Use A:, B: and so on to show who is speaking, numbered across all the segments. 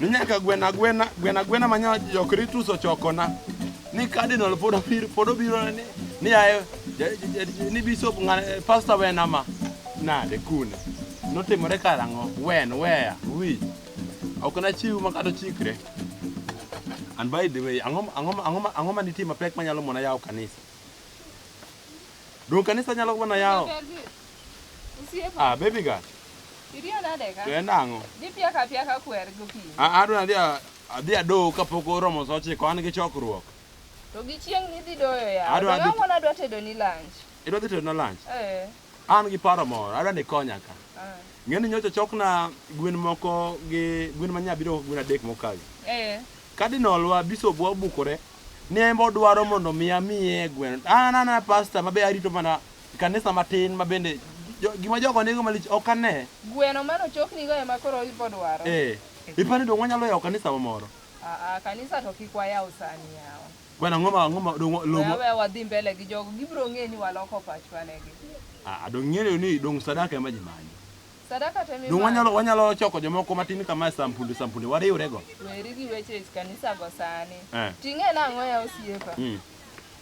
A: Ni nyaka gwena gwena gwena gwena ma nya jokritus ochokona ni cardinal pod obiro pod obiro ni ni ayo ja- ja- ja- ni bishop ng'a pastor wena ma nade kune notimore karang'o wen wea wi ok nachiw ma kata ochikre and by the way ang'o ang'o ang'o ma- ang'o ma nitie mapek manyalo mona yawo kanisa dong kanisa nyalo mana yawo Osiepa. Ah, baby girl. Iriyo
B: nade ka? To en ang'o? Dhi piaka
A: piaka
B: kwer gokinyi. Ah, adwa adhi a-
A: adhi adow kapok oromo saa ochiko an gi chokruok. To gi chieng'
B: nidhi doyo ya. Adwa Adwa dhi- ng'won adwa tedo ni lunch. Idwa dhi tedona lunch?
A: Eh. An
B: gi paro
A: moro, adwa ni ikonya ka. ah, Ng'eni nyocha chokna gwen moko gi gwen manya biro gi gwen adek mokagi. Eh. Kadinolwa bishop wa obukore ni en bodwaro mondo mi amiye gweno. An an a pastor mabe arito mana Kanisa matin ma bende jo- gima jogo nigo malich ok ane. Gweno mano
B: choknigo ema koro ibo dwaro. Eh. Iparo ni donge
A: wanyalo yawo kanisa moro? Aa, kanisa to
B: kik wayaw sani yawa. Bwana ng'oma ang'o ma
A: donge Weya lomo? weya wadhi mbele gi
B: jogo, gibiro ng'e ni waloko pachwa negi. Ah, donge ng'eyo
A: ni donge sadaka ema ji manyo. Sadaka temi
B: Donge wanyalo wanyalo choko
A: jomoko matin kama e sampunde sampunde wariwrego. weri gi weche
B: kanisago sani. Eh. Ting'e nang'o ya osiepa? Mm.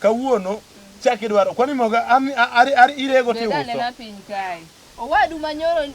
B: Kawuono
A: chak idwaro. Kwani moga ami ari ari irego ti uso. Nena piny kae.
B: Owadu manyoro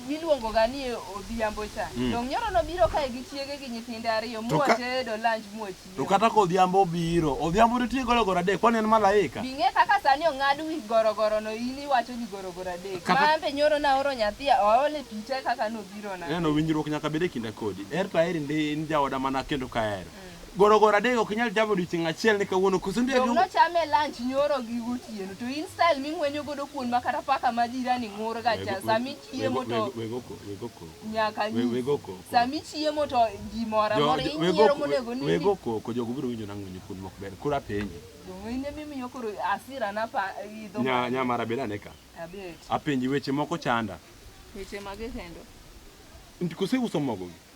B: miluongo ga ni odhiambo cha. Mm. Dong nyoro nobiro kae gi chiege gi nyithinde ariyo mwatedo lunch mwachiemo. To kata ko odhiambo
A: biro, odhiambo nitie golo goro adek, kwani en malaika. Bing'e kaka sani
B: ong'ad wi goro goro no in iwacho ni goro goro adek. Kata... Ma ambe nyoro na oro nyathi aole picha kaka nobiro na. Neno winjruok nyaka bede
A: kinda kodi. Er ta eri ndi in jaoda mana kendo ka er. Mm. Gorogoro adek ok nyal chamo odiochieng' achiel ni kawuono koso ndia Jong' nochame lunch
B: nyoro gi gotieno to in style ming'wenyo godo kuon ma kata paka ma jirani ng'ur ga cha sami chiemo to
A: nyaka
B: nyisi sami chiemo to ji mora mora inyiero monego ni wego koko jogo biro winjo
A: nang'wenyo kuon mok ber kura penje ine mimiyo
B: koro asira na pa idho nya nya mara beda neka
A: abet apenji
B: weche moko
A: chanda weche mage
B: kendo ndiko
A: se uso mogo gi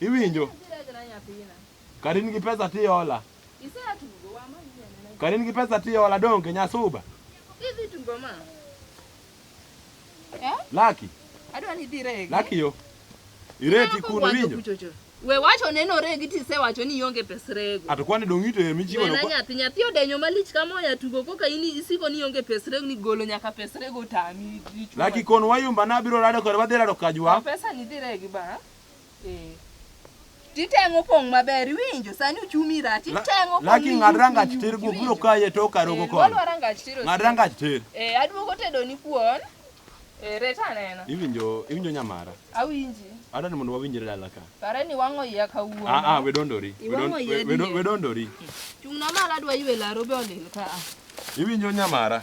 A: Iwinjo? Kar in gi pesa tihola.
B: Kar in gi pesa tihola
A: donge nyasuba? Idhi tugo
B: ma. Eh?
A: Laki. Adwa ni idhi
B: rege. Laki yo.
A: Ireti kuno winjo. We wacho
B: neno regi tise wacho ni ionge pes rego. Ato kwani dong ito e
A: michiwo no. Nyathi nyathi odenyo
B: malich kama oya tugo koka ini isiko ni ionge pes rego ni golo nyaka pes rego tami. Laki kon
A: wayumba na biro rado kod wadhi rado kajwa. Pesa ni dhi regi ba.
B: Eh. Titengo pong' maber, iwinjo? Sani uchumi rach, itengo pong' Laki ng'ad rangach
A: tir go biro kaye to karogo kono. Ng'ad rangach tir. Ng'ad rangach tir. Eh, aduogo tedo ni
B: kuon. Eh, reta neno. Iwinjo, iwinjo nyamara.
A: Awinji.
B: Ada ni mondo wawinjre
A: dala ka. Pare ni wang'o iya
B: kawuono. Ah ah, we dondori.
A: We dondori. Chung'na
B: mala dwa ywe laro be olil ka. Iwinjo
A: nyamara.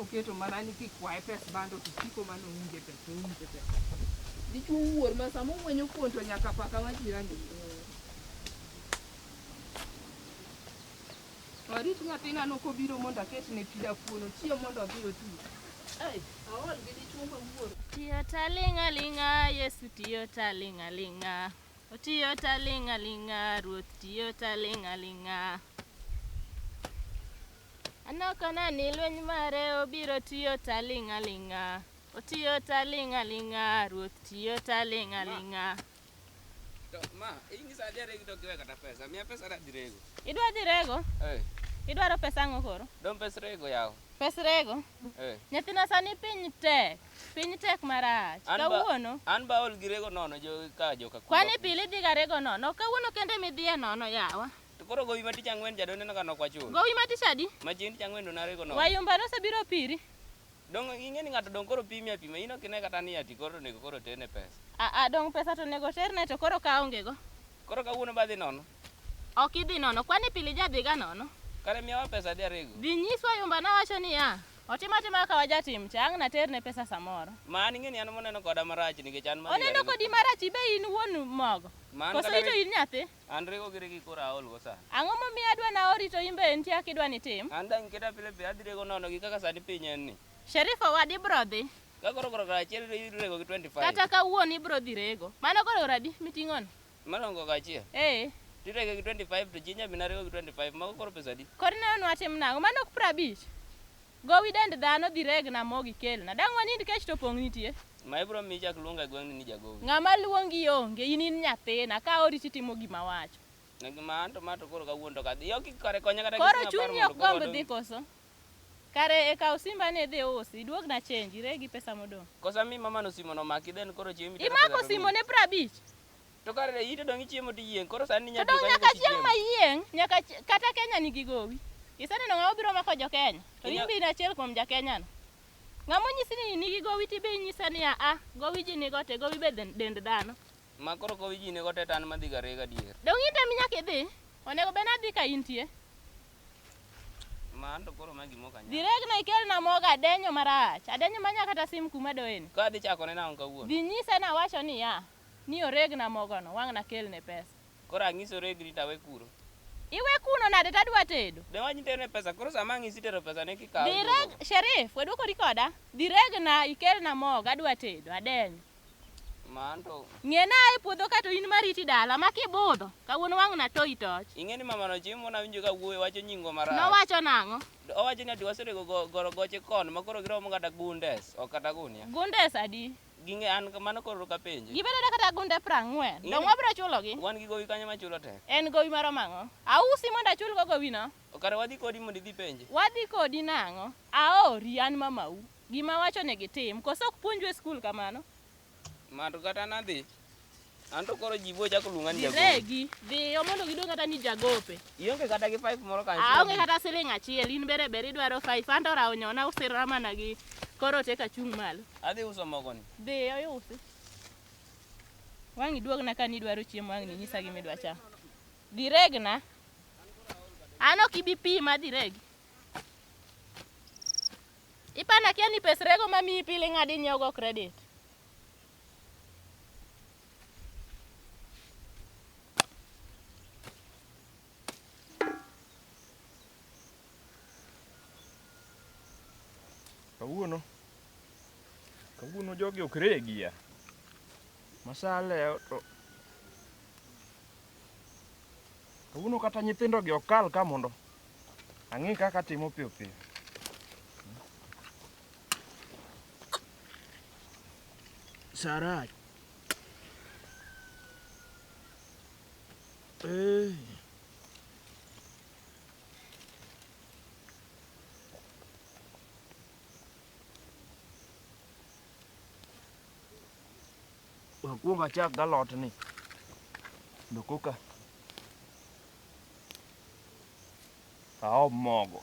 B: Oketo mana ni kikwaye pes bando to siko mana ounge pes ounge pes. Dichuo wuor ma sama ong'wenyo kuon to nyaka paka ma jirani. Warit nyathina no kobiro mondo aketne pi dakuon ochiem mondo odhi otuo. Ai, aol gi dichuo ma wuor. Tiyo talinga
C: linga, Yesu tiyo talinga linga. Otiyo talinga linga, Ruoth tiyo talinga linga. Anokona ni lweny mare obiro tiyo taling' aling'a. Otiyo taling' aling'a, Ruoth tiyo taling' aling'a. To
D: ma, inyisa adier egi dok iwe kata pesa. Miya pesa adhi rego. Idwa dhi rego?
C: Eh, Idwaro pesa ang'o koro? dong' pes rego yawa.
D: Pes rego?
C: Eh. Nyathina sani piny tek. Piny tek marach. An ba- Kawuono. An ba aol gi rego
D: nono jo ka joka. Kwani pile idhiga
C: rego nono. Kawuono kende midhiye nono yawa. To koro gowi ma tich
D: ang'wen jado neno ka nokwa chulo. Gowi ma tich adi? Ma
C: chieng' tich ang'wen donare
D: go no. Wayumba nosebiro piri.
C: Dong ing'e
D: ni ng'ato dong koro pimi apima. In ok ine kata ni ati koro onego koro terne pesa. Ah ah dong pesa to
C: onego terne to koro ka onge go. Koro kawuono ba dhi
D: nono. Ok idhi nono.
C: Kwani pile ijadhiga nono? Kare miyawa pesa adi
D: arego. Dhi nyis wayumba
C: nawacho niya, otim atima kaka wajatim cha, ang' naterne pesa samoro. Ma an ing'e ni an ema oneno
D: koda marach nikech an ma Oneno kodi marach
C: ibe in wuon mogo. Ma an Koso kata in to ri- in nyathi? An rego gi regi koro
D: aol go sani. Ang'o momiyo adwa na
C: ori to inbe entie kaka idwa ni tim? An dang' iketa pile pile
D: adhi rego nono gi kaka sani piny en ni. Sherif owad ibro
C: dhi. Ka koro koro kar achiel
D: idhi rego gi 25. Kata kawuono ibro
C: dhi rego. Mano koro koro adi miting'o no? Mano koko achiel.
D: Ee. To irege gi 25 to chieng' nyamin arego gi 25. Mago koro pesa adi? Koro ineno ni watim nang'o?
C: Mano ok prabich? Gowi dend dhano dhi regna mogi ikelna. Dang' wanind kech to pong' nitie. Ma ibro mi chak
D: luonga e gweng'ni ni jagowi. Ng'ama luongi onge,
C: in in nyathina. Ka aori titimo gima awacho. Ne gima an to ma
D: to koro kawuono to ok adhi. Yok kare konya kata gi Koro simu apar chunyi mondo ok gomb
C: dhi koso? Kare e kaw simbani idhi iusi, iduogna change, iregi pesa modong'. Koso ami mamano simo
D: nomaki then koro chieng' iwinj kata Imako pesa to simo omiyi. ne prabich?
C: To kare to
D: iyito dong ichiemo to iyieng'. Koro sani inya tiyo nyaka chieng' ma
C: iyieng', nyaka kata Kenya nigi gowi. Iseneno ng'ama biro mako jo Kenya? To in be in achiel kuom ja Kenya no. Ng'ama onyisi ni nigi gowi tibe inyise ni a gowi ji nigo te, gowi be dend dhano. Ma koro gowi ji
D: nigo te tan madhi ga rega dier. Dong in temi nyaka idhi.
C: Onego bed adhi ka intie. Ma
D: anto koro ma gimo kanya. Diregna ikelna moga
C: adenyo marach. Adenyo manya kata sim kuma doeni. Ka adhi chako ne na
D: kawuono. Dhi nyise na wacho ni
C: ya. Ni oregna mogono wang' nakelne pesa. Koro ang'isi oregni
D: to awe kuro. Iwe kuno
C: nade to adwa tedo. Be wach niterne pesa
D: koro sama ang'isi tero pesa ne kikawe Dhi iduogo reg, go. Sherif we
C: duokori koda. Dhi regna ikelna mogo adwa tedo, adenyo. Ma anto.
D: Ng'ena ae
C: puodho ka to in mariti dala ma kibudho, kawuono wang' natoyi toch. Ing'e ni mamano chieng' moro
D: nawinjo ka wuoyo wacho nyingo marach. Nowacho nang'o?
C: Owacho ni ati
D: waserego go, goro goche kon ma koro giromo kata gundes, ok kata gunia. Gundes adi?
C: Ginge an mano
D: koro kapenje. Gibedo da kata gunde
C: prang'wen. Dong' wabiro chulogi? Wan gi gowi kanyo ma chulo
D: tek. En gowi marom ang'o?
C: Ausi mondo achulgo gowino? To kare wadhi kodi mondo
D: idhi penje. Wadhi kodi nang'o?
C: Aori, an mamau. Gima awacho ni gitim. Koso ok puonju e skul kamano? Ma to
D: kata an adhi. An to koro ji bo chako luonga ni jagope. Diregi, dhiyo mondo
C: gidong kata ni jagope. Ionge kata gi five
D: moro kanyo. Aonge kata siling' achiel,
C: in bere bere idwaro five, an to orawo nyona usira mana gi koro tek achung' malo. Adhi uso mogo ni.
D: Dhiyo iusi.
C: Wang' iduogna ka nidwaro chiemo wang' ninyisa gima idwa chamo. Diregna. An ok ibi pima diregi. Ipana kia ni pes rego mamiyi pile ng'adi nyiewogo credit.
E: Kawuono kawuono jogi ok regia. Masaa lewo to kawuono kata nyithindogi ok kal ka mondo ang'i kaka timo piyo piyo. Sarai. Hey. Wakuong achak galot ni. Ndokoka. Aom mogo.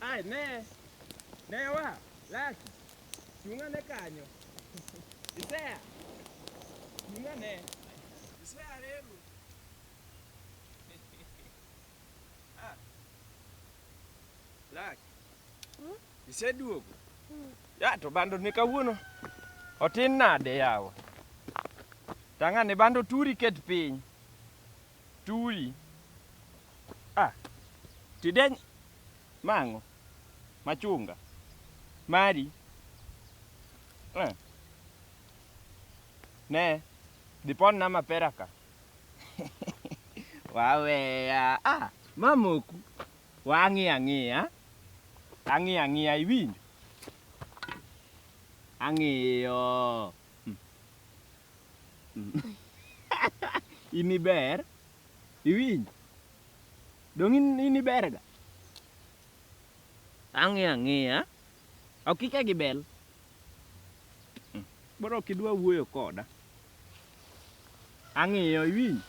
A: Ai, ne, ne wa, laki, chunga ne kanyo. Isea, chunga ne. Isea rero. Ah. Laki. Iseduogo?
E: Ya to bando ne kawuono otin nade yawa? Tang'ane bando turi ket piny. Turi. Ah. Tideny mang'o? Machunga. Mari. Eh. Ne. Dipon na mapera ka. Waweya. Ah, mamoku. Wang'i ang'iya, ang'iya ang'iya iwinjo? Ang'iyo. In iber, iwinjo? Dong' in in iberga? Ang'iya ang'iya, ok ike gi bel. Koro ok idwa wuoyo koda. Ang'iyo iwinj.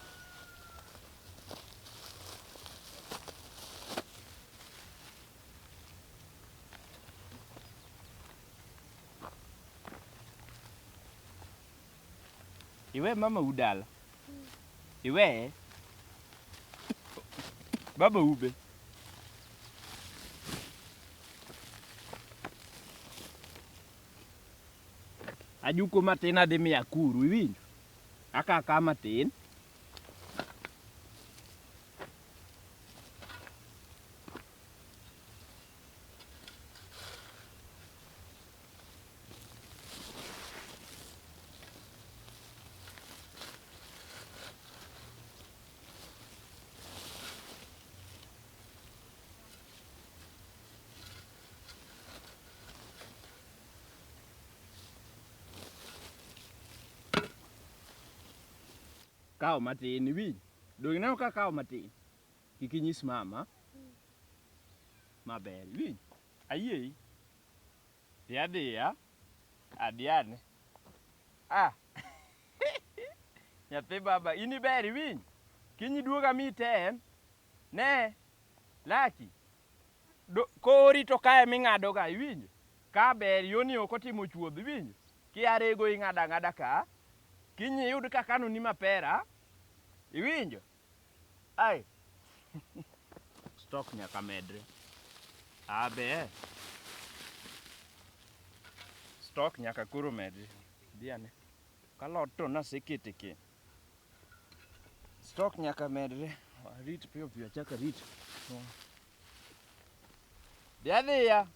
E: Iwe mama u dala. Iwe. Baba ube. Ajuko matin adhi miya kuru, iwinjo? Aka ka matin. Kawo matin, iwinjo? Donge ineno ka kawo matin? Kik inyis mama. Maber, iwinjo? Ayiei. Dhi adhiya. Adi ane. Ah. Nyathi baba, in iber iwinjo? Kiny iduog ami item. Ne, Lucky, do, kori to kae ming'ado ga, iwinjo? Ka ber, yoni ok otimo chuodho, iwinjo? Kia rego ing'ado ang'ada ka, kiny iyud ka kano ni mapera, iwinjo? Ai, stock nyaka medre. Ah, ber. Stock nyaka koro medre. Diane, kalot to nasekete keny. Stok nyaka medre. Arit piyo piyo achak arit. Dhi adhiya.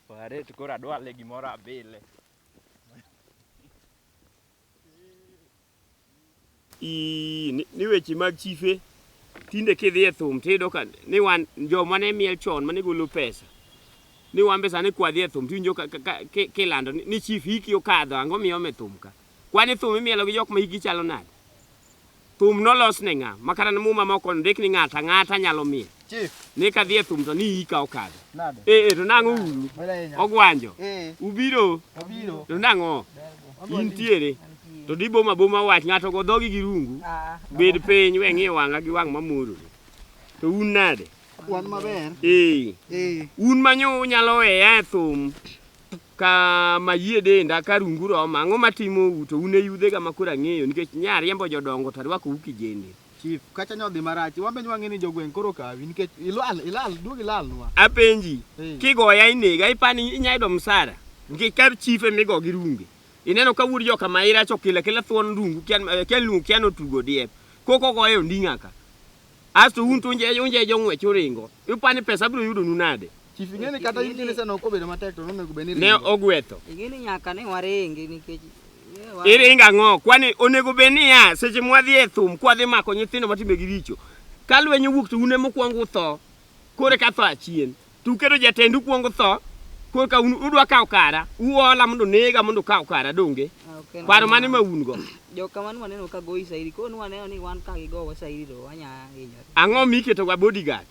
E: Ware to koro adwale gimoro abile.
D: ni weche mag chife tinde kidhi e thum tiyudo ka ni wan joma ne miel chon mane golo pesa ni wan be sani kwadhi e thum tiwinjo kilando ni chief hiki okadho ang'o miyo me thum ka kwani thum imielo gi jok ma hiki chalo nade thum nolos ne ng'a makata muma moko ndik ni ng'ata ng'ata nyalo miel Chief. Ni ka dhie
F: thum to
D: ni ika okadho. Nade? Eh eh to nango
F: uru.
D: Ogwanjo. Eh. Ubiro. Ubiro. To nango. Intiere. To di boma boma wach ngato go dhogi gi rungu. Ah. Bed piny we ngi wanga gi wang mamuru. To un nade? Wan maber.
F: Eh. Eh.
D: Un manyo nyalo e ya thum. Ka mayie denda ka rungu roma ango matimo u to un e yudhe ga makura ngeyo nikech nyariembo jodongo tarwako u kijende. Chief, kacha ne odhi
F: marach. Wan be wang'e ni jogweng' koro kawi nikech ilal ilal duog ilalnwa. Apenji, Hey.
D: kigoya inega ipani inya yudo msara? Nikech ka chief ema igo gi runge. Ineno ka wuod joka Maira cha okelo akela thuon rungu kia eh, kia luong kia notugo diep. Kok ogoye onding'a ka. Asto un to unje unje jong'wech uringo. Upani pesa biro yudonu nade? Chief ing'e
F: ni kata in kanisa no kobedo matek to nonego bed ni ne ringo. ogwetho Ing'e
D: ni nyaka ne
G: waringi nikech eh, wa- iringo
D: ang'o kwani onego bed niya seche mwadhi e thum kwadhi mako nyithindo matime gi richo ka lweny owuok to un ema ukwongo utho kore ka tho achien to uketo jatendu kwongo tho kore ka un udwa kawo kara uola mondo nega mondo ukaw kara donge ah, ok en paro kamano. mane ma un go Joka mane waneno ka
G: goyi sairi koro nwaneno ni wan ka gigowa sairi to wanya hinyore. ang'o miketoga
D: bodyguard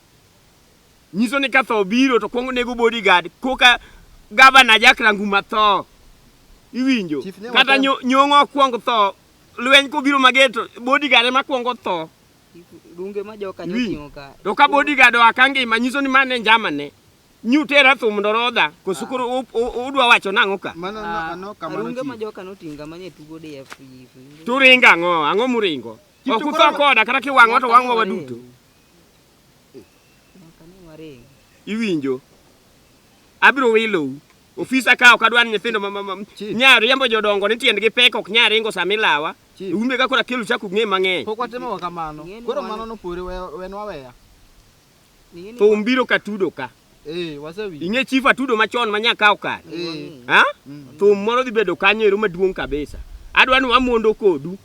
D: Nyiso ni ka tho obiro to kwongo nego bodyguard koka gavana Jack Ranguma tho. Iwinjo? Chief Nyawata- Kata nyo- nyong'o ok kwong tho. Lweny kobiro mager to bodyguard ema kwongo tho. Runge ma
G: joka Wi. nyoting'o ka. To ka bodyguard oa
D: ka ngima nyiso ni mane njamane. Nyutera thum ndorodha koso koro o- o- odwa wacho nang'o ka? Mano no, Ah, ano kamano Runge
F: ma chief. joka noting'o
G: ka manye tugo DF. Turingo
D: ang'o? Ang'o muringo? Chief, Ok to utho koro- koda kata kiwang'o to wang'wa waduto. Iwinjo? Abiro wilou. Ofisa ka ok adwar nyithindo ma- ma- ma- Chief. nya riembo jodongo ni tiendgi pek ok nya ringo sama ilawa. Chief. Umbe ka kora kelu chak ung'e mang'eny. Pok watimoga kamano.
F: Ng'eni Koro wana- mano nopore we- wen waweya. Ing'eni
D: Thum biro ka tudo ka. Eh, wasewinjo. Ing'e
F: chief atudo
D: machon ma nya kawo kare. Eh. Ha? Mm. Thum moro dhi bedo kanyo ero maduong' kabisa. Adwa ni wamondo kodu.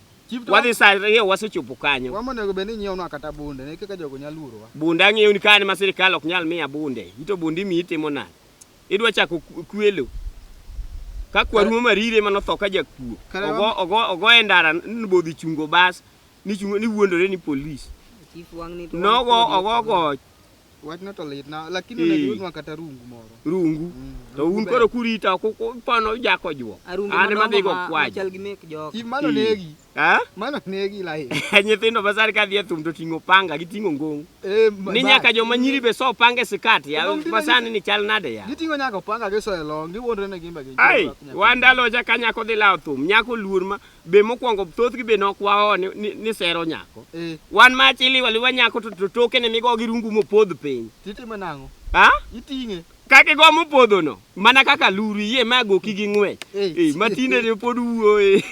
D: Wadhi sa ariyo wasechopo kanyo. Wamonego bende inyiewna
F: kata bunde, ne kaka jogo nyalo luorowa. Bunde ang'eyo ni kane ma
D: sirkal ok nyal miya bunde, ito bunde imiyi timo nade? Idwa chako kwelo. Ka kwaruo marire mano tho ka jakuo. Ogo ogo ogo e ndara ni bodhi chungo bas, ni chungo ni wuondore ni polis. Nogo ogo ogo Wachno to
F: litna, lakini Eh. onego yudnwa kata rungu moro. rungu Mm, to rungu un ber. koro
D: kurita ku- ku- pono jako juok Arunge an madongo madhigo ma- kwajo machal gi mek joka. Ki- Mano
F: Eh. negi, Eh? mano negi lahi. nyithindo masani
D: kadhi e thum to ting'o panga gi ting'o ngong Eh, ma- ni ba- nyaka joma nyiri be so panga e sikat ya Ngong' tinde masani ni chal nade ya Giting'o nyaka opanga gisoyo
F: long, giwuondre ni gin be gin. ai wan ndalo
D: cha ka nyako dhi lawo thum nyako luor ma be mokwongo thothgi be nok wao ni, ni, ni sero nyako Eh, wan ma achili waliwa nyako to, to toke ne migo gi rungu mopodh piny titimo nang'o?
F: ha Iting'e.
D: kaka igo mopodho no mana kaka luru iye ma goki gi ng'wech Eh. eh, matinde ne pod wuo eh.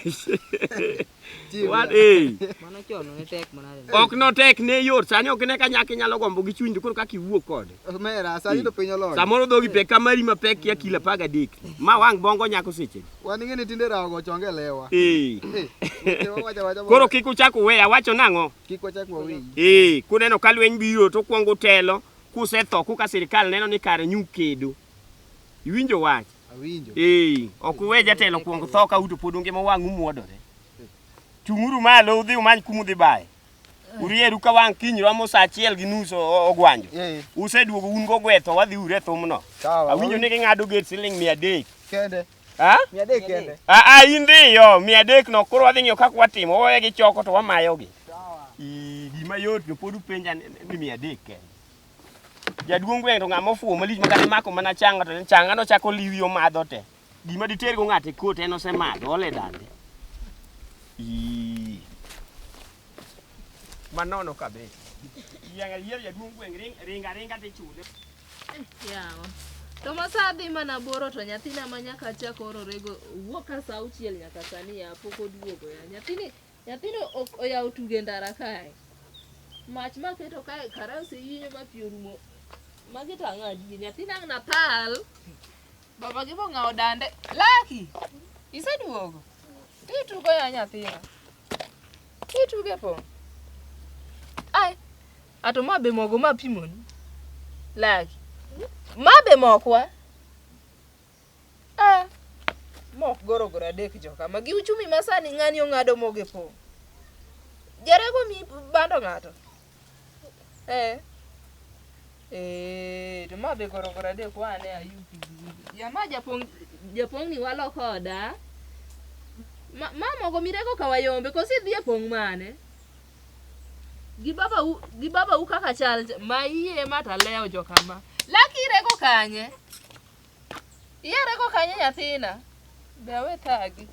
D: Chiwo. Wan- eh. Mano chon ne tek manade. ok notek ne yot sani ok ne ka nyako inyalo gombo gi chuny to koro kaka iwuo kode Omera, sani to piny olony. Samoro dhogi pek ka mari mapek ya kila paga adek. Ma wang' bongo nyako seche. Wan ing'e ni tinde rawo
F: go chonge lewa. Eh. Eh, weche wawacho awacha ma-
D: Koro kik uchak uwe awacho nang'o? kik wachak waweyi.
F: Eh, kuneno ka lweny
D: biro to kwongo telo kusetho kuka sirikal neno ni kare nyu kedo. Iwinjo wach? Awinjo. Eh, ok uwe jatelo kwong tho ka uto pod ungima wang'u muodore. Chung'uru malo udhi umany kumu dhi baye. urieru ka wang' kiny romo sa achiel gi nus ogwanjo eh. useduogo un go gwetho wadhi ure thumno awinjo ni ging'ado gate siling mia adek kende Ah, ah, in ndiyo mia adek no koro wadhi ng'iyo kaka watimo oye gi choko to wamayogi gima yot to pod upenja ni mia adek kende jaduong' gweng' to ng'ama ofuwo malich makata mako mana changa to changa nochako liwi omadho te Gima ditergo ng'ato e kot en osemadho ole dande. Ii. Manono ka be. Yieng' ayier jaduong' gweng' ring ring aringa tichule. Yawa.
B: To ma sa adhi mana boro to nyathina ma nyaka achak ororego wuok ka sa auchiel nyaka sani ya pok oduogo ya. Nyathini nyathino ok oyawo tugo e ndara kae. Mach maketo kae kara oseyienyo ma pi orumo. Magi to ang'o adier nyathina ang' nathal. Baba gi bonga odande. Laki. Iseduogo. Ti tugo ya nyathina. Ti tuge po. Ai. Ato ma be mogo ma pimoni. Laki. Ma be mokwa. Ah. Mok goro goro adek joka. Ma gi uchumi masani ng'ani ong'ado moge po. Jarego mi bando ng'ato. Eh. Eh, to ma be gorogoro adek wane ayub kigigi. Ya ma japong japong ni walo koda. Ma, ma mogo mirego ka wayombe kosi dhi e pong mane? Gi baba u, gi baba u kaka chal ma iye ma talewo joka ma. Laki irego kanye? Iyarego kanye nyathina? Be awe thagi.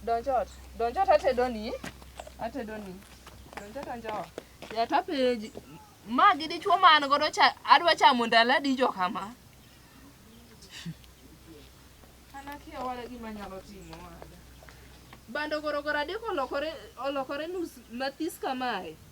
B: Donj ot. Donj ot atedoni. Atedoni. Donj ot donj ot. Yat apenji. Ma gi dichwo ma an godo cha adwa chamo ndalo adi jo kama? An akia wala gima nyalo timo wala. Bando gorogoro adeko olokore olokore nus mathis kamae.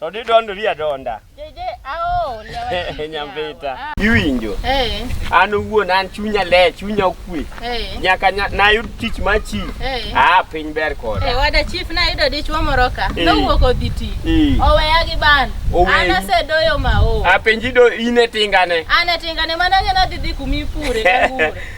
D: To di don ri adonda. Jeje ao
C: lewa. Nyambita. Ah.
D: Iwinjo. Eh. An
C: wuon an
D: chunya le, chunya okwe. Eh. Nyaka na yud tich ma chi. Eh. Ah, piny ber koda. Eh, wada chief na yudo
C: dichwo moro ka. Eh. Nowuok odhi ti. Eh. Oweya gi ban. An asedoyo ma o. Ah, penji do ine
D: tingane. An e tingane mana
C: ngena dhi dhi kumi pure.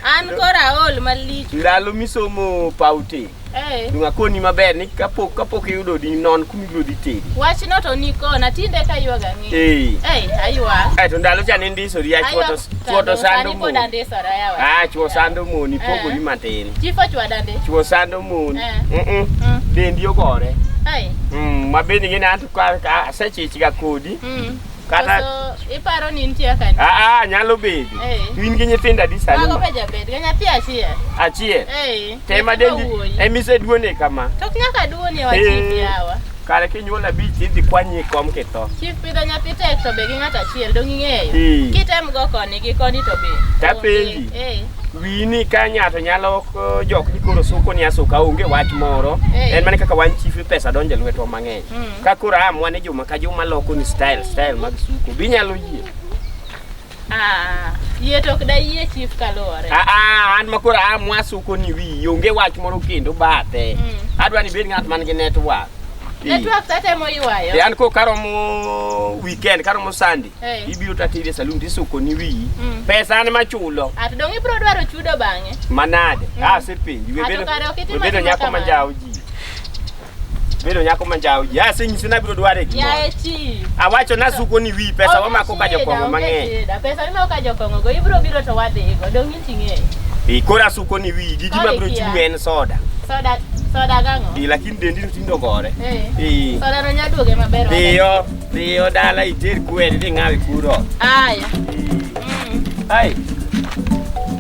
C: An kora ol malich. Ndalo misomo
D: paute. Eh. Donge akoni maber ni kapok kapok iyudo odi non kuma ibiro dhi tedi. Wachno to ni kona
C: tinde ka yuaga ng'e. Eh. Eh, aywa. Eh, to ndalo cha ne ndisori
D: ya chwoto chwoto sando mo. Pod andisora yawa. Ah, chwo sando mo ni pogori eh. matin. Chifo chwada ndi.
C: Chwo sando mo.
D: Eh. Mhm. Mm. Dendi ogore. Eh. Mm, mabeni ngene antu ka ka asechichiga kodi. Mm. Kata so,
C: iparo ni nitie kani? Ah ah, nyalo bedo.
D: Eh. In gi nyithindo adi sani? Mago be jabed, ga nyathi
C: achiel. Achiel. Eh.
D: Tema dendi emise duone kama. To nyaka duone wa
C: chief eh, yawa. Kare kinyuol abich
D: idhi kwanyi kom kitho. Chief pidho nyathi tek
C: to be gi ng'at achiel dong ing'eyo. Eh. Kitem go koni gi koni to be. Tapenji.
D: Eh. Wini ka ng'ato nyalo jok ni koro suko ni asuka onge wach moro. Hey. En mana kaka wan chief pesa donje lwetwa mang'eny. Mm. Ka koro am wan e juma ka juma loko ni style style mag suko. Binyalo yie. Ah,
C: yie to ok dayie chief kaluwore. Ah, ah, an makoro a
D: mwasuko ni wiyi onge wach moro kendo bathe Mm. adwa ni bed ng'at man gi network Ii. Network
C: tatemo ywayo. Eh, an ko karomo
D: weekend karomo sunday Eh. ibiro tatiri e saloon tisuko ni wiyi Mm. pesa an machulo At dong ibro dwaro
C: chudo bang'e. manade Mm.
D: asepenji we Ato bedo- kare ok itim we bedo atima nyako kamano. manjawo ji Bedo nyako ma jawo ji. Ase nyisi ni abiro dware gimoro. Yaye chief.
C: Awacho nasuko ni
D: wi pesa wamako ka jokong'o mang'eny. Pesa mimako ka jokong'o
C: go ibiro biro to wadhigo. Dong' inti ng'eyo. Ee, koro asuko ni wi
D: gi gima Kore biro kia. chungi en soda. Soda soda
C: gang'o? Ee, lakini dendi tindo
D: gore. Eh. Ee. Soda no
C: nyaduoge maber. wadhi. Dhiyo, dhiyo
D: dala iter kweri dhi ng'awi kuro.
C: Aya.
D: Mm. Ai,